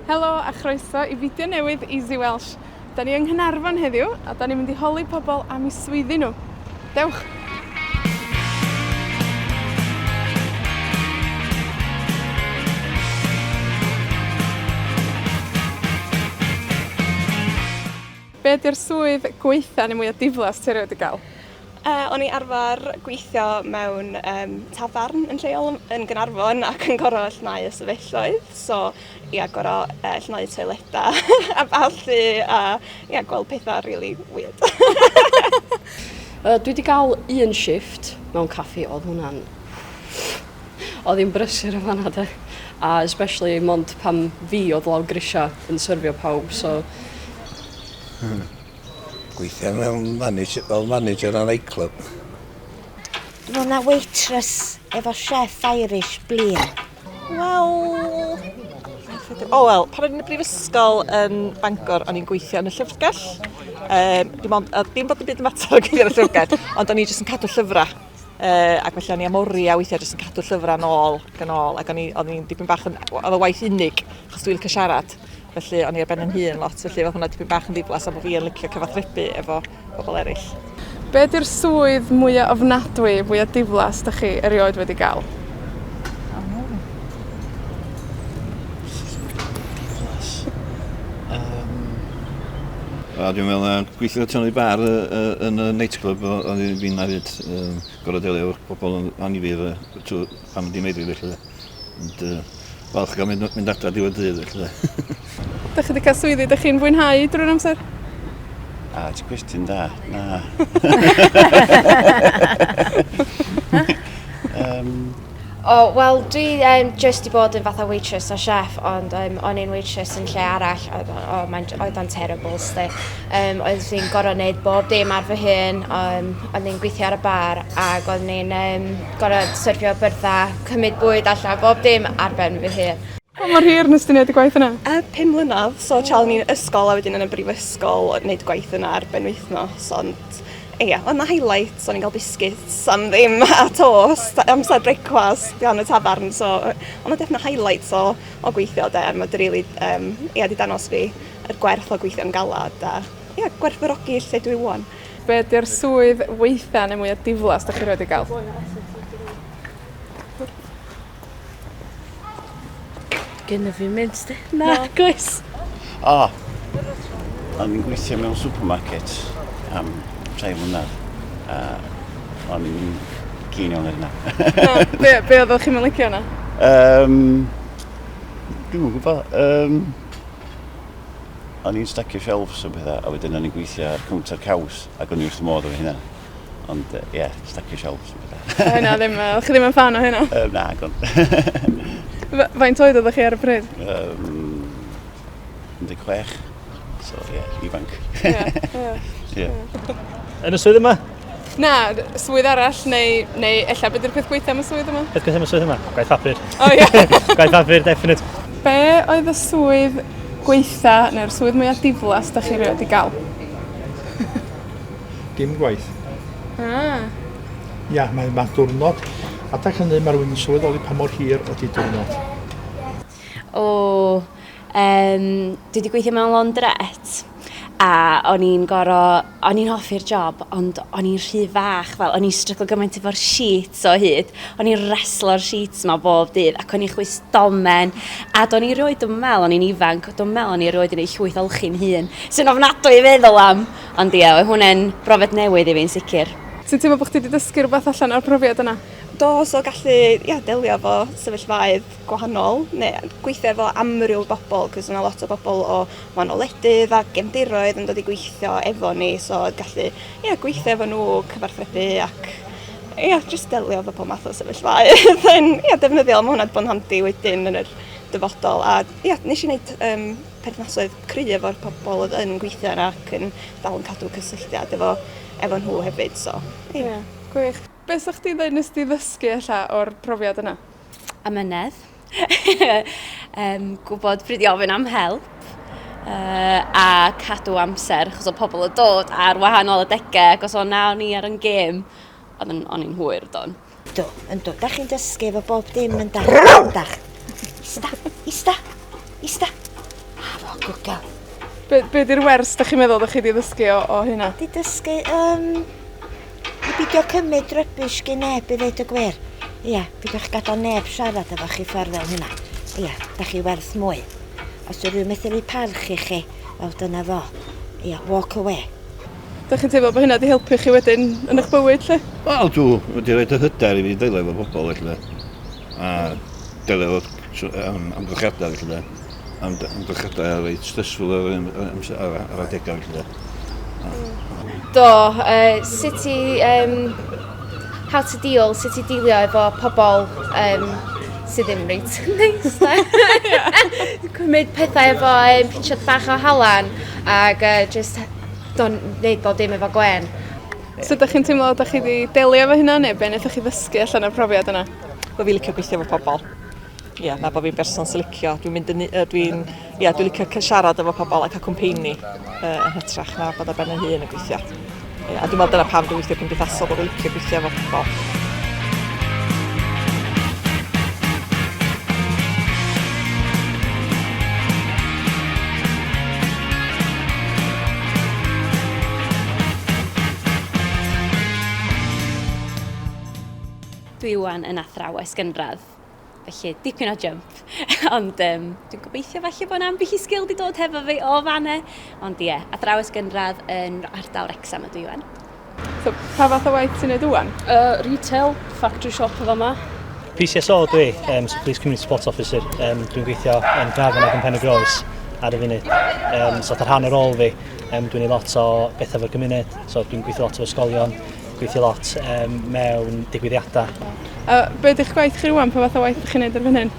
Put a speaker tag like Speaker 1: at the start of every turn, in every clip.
Speaker 1: Helo a chroeso i fideo newydd Easy Welsh. 'Dan ni yng Nghaernarfon heddiw, a 'dan ni'n mynd i holi pobol am 'u swyddi nw. Dewch! Be' 'di'r swydd gwaetha' ne' mwya diflas ti erioed 'di ga'l? Yy o'n i arfar gweithio mewn yym tafarn yn lleol yn yn Ganarfon ac yn goro llnau y stafelloedd so ia goro yy llnau toileda a ballu a ia gweld petha rili wierd. Yy dwi 'di ga'l un shifft mewn caffi odd hwnna'n Odd hi'n brysur yn fanna 'de. A especially mond pan fi odd lawr grisia yn syrfio pawb so... Hmm. Gweithio fel manager fel manager ar nightclub. Fo' 'na waitress efo chef Irish blin. Wel o wel pan o'n i'n y brifysgol yn Bangor o'n i'n gweithio yn y llyfrgell. Yym dim ond yy dim bod dim byd yn mater o gweithio yn y llyfrgell ond o'n i jyst yn cadw llyfra. Uh, ac felly o'n i am oriau weithiau jyst yn cadw llyfrau nôl ac yn ôl, ac o'n i'n dipyn bach yn... oedd y waith unig, achos dwi'n cael siarad. Felly o'n i ar ben yn hun lot, felly oedd hwnna dipyn bach yn ddiflas am bod fi yn licio cyfathrebu efo pobl eraill. Be di'r swydd mwya ofnadwy, fwya diflas 'dach chi erioed wedi ga'l? A dwi'n meddwl na gweithio Tony Barr yy yy yn y nightclub o- o'n i fin na fyd yym gor'o' delio efo pobol yn annifyr yy trw- pan o'n i'n meddwi felly de. Ond yy falch ga'l mynd o- mynd adra diwedd dydd felly 'de. 'Dach chi 'di ca'l swyddi 'dych chi'n fwynhau drwy'r amser? A ti cwestiwn da. Na. Yym. O, wel, dwi um, just i bod yn fatha waitress a chef, ond um, o'n i'n waitress yn lle arall, oedd, o, mae'n, oedd o'n terrible, sti. Um, oedd fi'n gorau wneud bob dim ar fy hun, um, oedd ni'n gweithio ar y bar, ac oedd ni'n um, gorau syrfio byrddau, cymryd bwyd allan, bob dim ar ben fy hun. Pa mor hir nes ti wneud y gwaith yna? Uh, pum mlynedd, so tra o'n i'n ysgol a wedyn yn y brifysgol, wneud gwaith yna ar benwythnos, ond Ia, oedd 'na highlights, o'n i'n cael biscuits am ddim a toast amser brecwast gan y tafarn, so yy oedd 'na definite highlights o o gweithio 'de, mae 'di rili yym ia 'di dangos fi yr gwerth o gweithio'n galad a ia gwerthfawrogi lle dwi 'wan. Be ydi'r swydd weitha neu mwya diflas 'dach chi rioed 'di ga'l? Gyn y fi mynd di. Na, goes. O! O'n i'n gweithio mewn supermarket am rhai mlynedd. A o'n i'n gyn iawn ar yna. no, be, be oedd o'ch chi'n mylicio yna? Um, Dwi'n gwybod. Um, o'n i'n stacio shelves o bethau, a wedyn o'n i'n gweithio ar counter caws, ac o'n i'n wrth modd o hynna. Ond, ie, yeah, stacio shelves yn bydda. O hynna ddim, uh, chi ddim yn fan o hynna? Uh, na, gon. Faint oed oeddech chi ar y pryd? Um, 16. So, ie, yeah, ifanc. Ie, ie. yeah. Yn y swydd yma? Na, swydd arall, neu, neu ella beth yw'r peth gweitha am y swydd yma? Peth gweitha am y swydd yma? Gwaith papur. O, oh, ie. Yeah. Gwaith papur, definite. Be oedd y swydd gweitha neu'r swydd mwyaf diflas da chi rioed i gael? Dim gwaith. Ah. Ia, mae'n ma diwrnod. Adeg hynny, mae rhywun yn sylweddoli pa mor hir ydy diwrnod. O, um, dwi wedi gweithio mewn laundrette a o'n i'n goro, o'n i'n hoffi'r job, ond o'n i'n rhy fach, fel o'n i'n stryglo gymaint efo'r sheets o hyd, o'n i'n reslo'r sheets ma bob dydd, ac o'n i'n chwys domen, a do'n i roed yn meddwl, o'n i'n ifanc, do'n meddwl o'n i roed yn ei llwyth olchi'n hun, sy'n ofnadwy i feddwl am, Ond ie, oedd hwnne'n brofiad newydd i fi'n sicr. Ti'n teimlo bod chdi 'di dysgu rhywbeth allan o'r profiad yna? Do, so gallu ia, delio efo sefyllfaoedd gwahanol neu gweithio efo amryw bobl, cos yna lot o bobl o wahanol wledydd a gefndiroedd yn dod i gweithio efo ni, so gallu ia, gweithio efo nhw, cyfarthrebu ac ia, just delio efo pob math o sefyllfaoedd yn ia, defnyddiol. Mae hwnna wedi bod yn handi wedyn yn yr dyfodol a ia, nes i wneud um, perthnasoedd cry efo'r pobol oedd yn gweithio yna ac yn dal yn cadw cysylltiad efo, efo nhw hefyd. So, ie. Yeah, gwych. Be' sa chdi ddweud nes di ddysgu ella o'r profiad yna? Amynedd. um, gwybod pryd i ofyn am help uh, a cadw amser, achos o pobl y dod ar wahanol adegau, ac os o'n na o'n i ar yn gêm, o'n i'n hwyr, don. Do, yn do. Da chi'n dysgu efo bob dim yn dach. Yn dach. Ista, ista, ista. A fo, good girl. Be, be di'r wers da chi'n meddwl da chi di ddysgu o, o hynna? Di dysgu, um, i bidio cymryd rybys gyn neb i ddeud y gwir. Ia, pidwch gadael neb siarad efo chi ffordd fel hynna. Ia, da chi werth mwy. Os yw'r rhywun methu rhoi parch i chi, wel dyna fo. Ia, walk away. 'Dach chi'n teimlo bo' hynna 'di helpu chi wedyn yn 'ych bywyd 'lly? Wel dw, ma' 'di roid y hyder i fi delio efo pobol felly 'de. A delio efo tr- yym amgylchiada felly 'de. Am- d- amgylchiada reit stressful ar yr un yy amse- ar y ar adega felly 'de. A. Do yy sut i yym how to deal sut i dilio efo pobol yym sy ddim reit neis 'de. Ie. Cymryd pethau efo yym pinsiad bach o halan ag yy jyst do'n neud bob dim efo gwên. Sud 'dach chi'n teimlo 'dach chi 'di delio efo hynna ne' be' nethoch chi ddysgu allan o'r profiad yna? Bo' fi licio gweithio efo pobol. Ia na bo' fi'n berson sy licio dwi'n mynd yn u- yy dwi'n ia dwi licio cy- siarad efo pobol a ca'l cwmpeini yy yn hytrach na bod ar ben 'yn hun yn gweithio. Ia a dwi me'wl dyna pam dwi weithio cymdeithasol bo' fi licio gweithio efo pobol. Dwi ŵan yn athrawes gynradd, felly dipyn o jump. Ond um, dwi'n gobeithio falle bod yna ambell i sgil wedi dod hefo fi o fanna. Ond ie, yeah, athrawes gynradd yn ardal Rexham ydw i ŵan. So, pa fath o waith ti'n neud ŵan? Uh, retail, factory shop o fama. PCSO dwi, um, so Police Community Support Officer. Um, dwi'n gweithio yn Grafan ac yn Pen y Groes ar y funud. Um, so, ar rhan o rôl fi, um, dwi'n ei lot o bethau fo'r gymuned. So, dwi'n gweithio lot o ysgolion, gweithio lot um, mewn digwyddiadau. A beth ydych gwaith chi rwan? Pa fath o waith ydych chi'n neud ar fan hyn?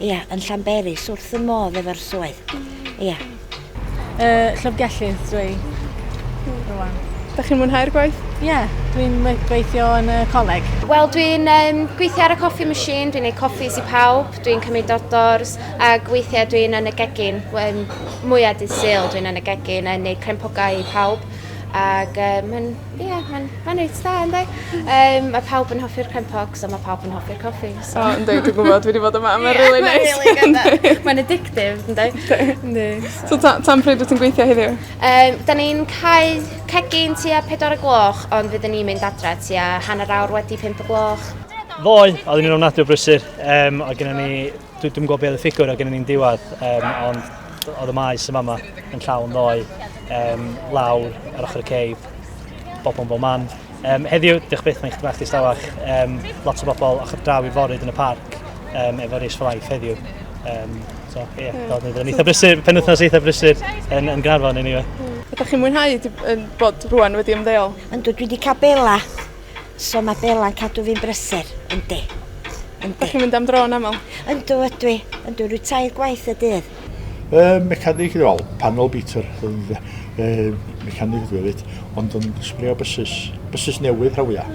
Speaker 1: Ia, yn Llanberis, wrth y modd efo'r swydd. Ia. Y llyfrgellydd dwi hmm. rwan. Da chi'n mwynhau'r gwaith? Ie, yeah, dwi'n gweithio yn y coleg. Wel, dwi'n um, gweithio ar y coffee machine, dwi'n ei coffees i pawb, dwi'n cymryd ordors, a gweithiau dwi'n yn y gegin, um, mwyaf dydd syl dwi'n yn y gegin, yn ei crempogau i pawb ac um, mae'n yeah, ma ma reit dda ynddo. Um, mae pawb yn hoffi'r crempog, so mae pawb yn hoffi'r coffi. So yndi dwi'n gwbod dwi 'di bod yma. Mae rili neis. Ie mae rili neis. Mae'n addictive yndi? Yndi. Yndi. So ta- tan pryd wt ti'n gweithio heddiw? Yym 'dan ni'n cau cegin tua pedwar y gloch ond fydden ni'n mynd adre tua hanner awr wedi pump y gloch. Ddoe, oeddwn i'n ofnadwy o brysur. Um, oedd gennym ni... Dwi, dwi'n gwybod beth oedd y ffigwr oedd gennym ni'n diwedd, um, ond oedd y maes yma yma yn llawn ddoe, um, lawr ar ochr y ceib, bobl yn bob man. Um, heddiw, diolch byth, mae'n chdi bach distawach. Um, lot o bobl ochr draw i forid yn y parc um, efo Race for Life heddiw. Um, so, ie, yeah, mm. yn eitha brysur, penwthnos eitha brysur yn, yn Gynarfon, anyway. Mm. Ydych chi'n mwynhau yn bod rwan wedi ymddeol? Yn dwi wedi cael bela, so mae bela'n cadw fi'n brysur, yndi. Ydych chi'n mynd am dro yn aml? Yndw, ydw i. Yndw, rwy'n tair gwaith y dydd. Yy, mecanig i ddol, panel beater, yy, mecanig ydw i hefyd, ond yn sbrio bysus, bysus newydd rhan fwya.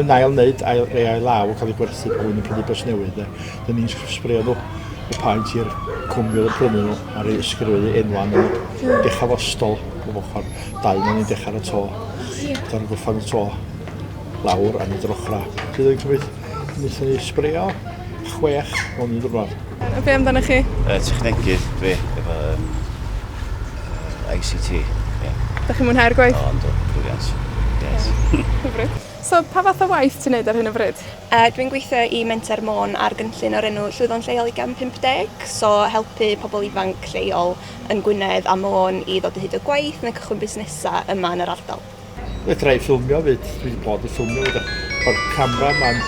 Speaker 1: Yn ail wneud, ail, ei ail law yn cael ei gwerthu pan yn prynu bys newydd, de. Dyn ni'n sbrio nhw, y paent i'r cwmni oedd yn prynu nhw, ar ei ysgrifennu enwan nhw. Hmm. Dechrau fo stol, o ochr, dau na ni'n dechrau y to. Dyna'n gwrthfan y to, lawr, a nid yr ochrau. Bydd yn cymryd Nes i sbrio chwech hwn yn dwrnod. A be amdanoch chi? Yy technegydd dwi efo yym yy I See Tee, ie. 'Dach chi'n mwynhau'r gwaith? O yndw, brilliant. Grêt. Hyfryd. So pa fath o waith ti'n neud ar hyn o fryd? Yy dwi'n gweithio i Menter Môn ar gynllun o'r enw Llwyfan Lleol i Gam 50, so helpu pobl ifanc lleol yn Gwynedd a Môn i ddod o hyd y gwaith neu cychwyn busnesa' yma yn yr ardal. Fedra i ffilmio fyd, dwi wedi bod i ffilmio fyd, o'r camera man.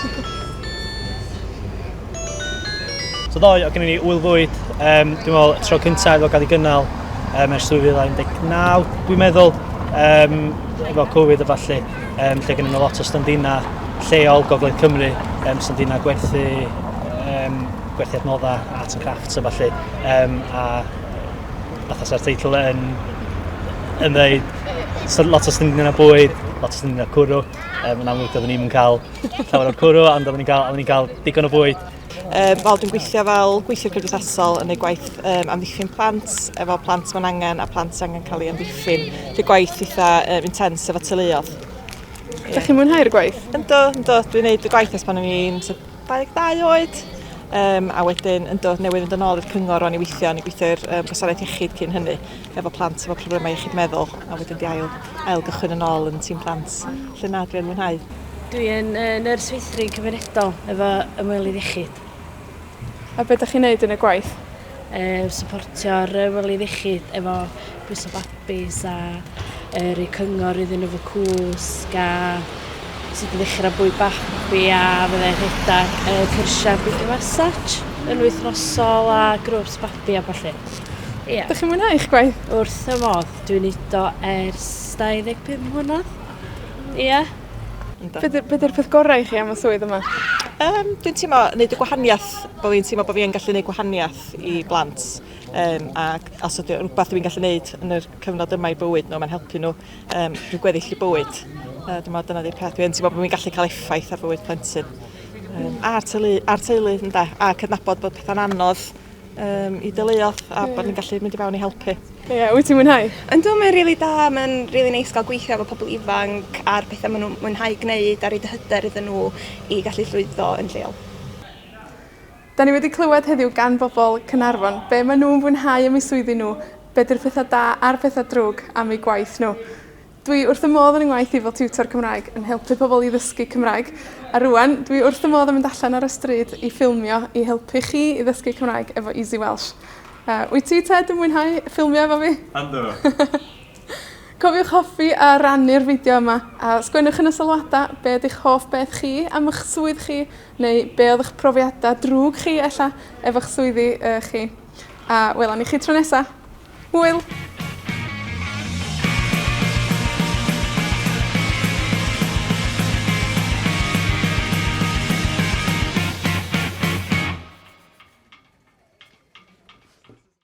Speaker 1: So ddoe, o gennym ni wyl fwyd, um, dwi'n meddwl y tro cyntaf efo gael ei gynnal um, ers 2019, dwi'n meddwl, um, efo Covid a falle, um, lle gennym ni lot o standina lleol Gogledd Cymru, um, standina gwerthu, um, gwerthu adnoddau, arts and crafts a falle, um, a fatha sa'r teitl yn yn dweud, so, lot o slindion a bwyd, lot o slindion a cwrw. Um, yn amlwg, doeddwn ni'n cael llawer o'r cwrw, ond doeddwn ni'n cael, ni cael digon o bwyd. Um, wel, dwi'n gweithio fel gweithio cymdeithasol yn ei gwaith um, amddiffyn plant, efo plant mae'n angen a plant angen cael ei amddiffyn. Dwi'n gwaith eitha um, intens efo tyluodd. Yeah. Da chi'n mwynhau'r gwaith? Ynddo, ynddo. Dwi'n neud y gwaith ers pan o'n i'n 22 oed, um, a wedyn yn dod newydd fynd yn ôl i'r cyngor o'n i weithio, o'n i gweithio i'r um, gwasanaeth iechyd cyn hynny, efo plant efo problemau iechyd meddwl, a wedyn di ail, ail gychwyn yn ôl yn tîm plant, lle na dwi'n mwynhau. Dwi yn uh, nyrs weithri cymunedol efo ymwelydd iechyd. A beth ydych chi'n neud yn y gwaith? Uh, supportio'r ymwelydd iechyd efo bwys o bap Base a yr y cyngor iddyn nhw fy cwsg a sut i ddechrau bwyd babi a fydda i'n rhedeg y cyrsiau baby massage yn wythnosol a grwps babi a falle. Ia. Dych chi'n mwynhau eich gwaith? Wrth y modd. Dwi'n neud o ers 25 mlynedd. Ia. Yndw. Be' 'di be' 'di'r peth gorau i chi am y swydd yma? Yym dwi'n teimlo neud y gwahaniath bo' fi'n teimlo bo' fi yn gallu neud gwahaniath i blant. um, ac os ydy rhywbeth dwi'n gallu gwneud yn y cyfnod yma i bywyd nhw, mae'n helpu nhw um, rhyw gweddill i bywyd. Uh, dwi'n meddwl dyna di peth. Dwi'n teimlo bod fi'n gallu cael effaith ar bywyd plentyn. Um, a'r teulu, ar teulu ynda, a cydnabod bod pethau'n anodd um, i dyleuodd a yeah. bod ni'n gallu mynd i fewn i helpu. Ie, yeah, wyt ti'n mwynhau? Yn dwi'n mynd rili da, mae'n rili neis gael gweithio efo pobl ifanc a'r pethau maen nhw'n mwynhau gwneud a rhaid y hyder iddyn nhw i gallu llwyddo yn lleol. 'Dan ni wedi clywed heddiw gan bobol Caernarfon be' ma' nw'n fwynhau am eu swyddi nhw, be' 'di'r petha da a'r petha drwg am eu gwaith nhw. Dwi wrth fy modd yn 'y ngwaith i fel tiwtor Cymraeg, yn helpu pobol i ddysgu Cymraeg, a rŵan, dwi wrth fy modd yn mynd allan ar y stryd i ffilmio i helpu chi i ddysgu Cymraeg efo Easy Welsh. Yy, wyt ti Ted yn mwynhau ffilmio efo fi? Yndw! Cofiwch hoffi a rannu'r fideo yma, a sgwennwch yn y sylwada be' 'di'ch hoff beth chi am 'ych swydd chi, Neu be' odd 'ych profiada drwg chi ella, efo'ch swyddi yy chi. A welwn ni chi tro nesa. Hwyl!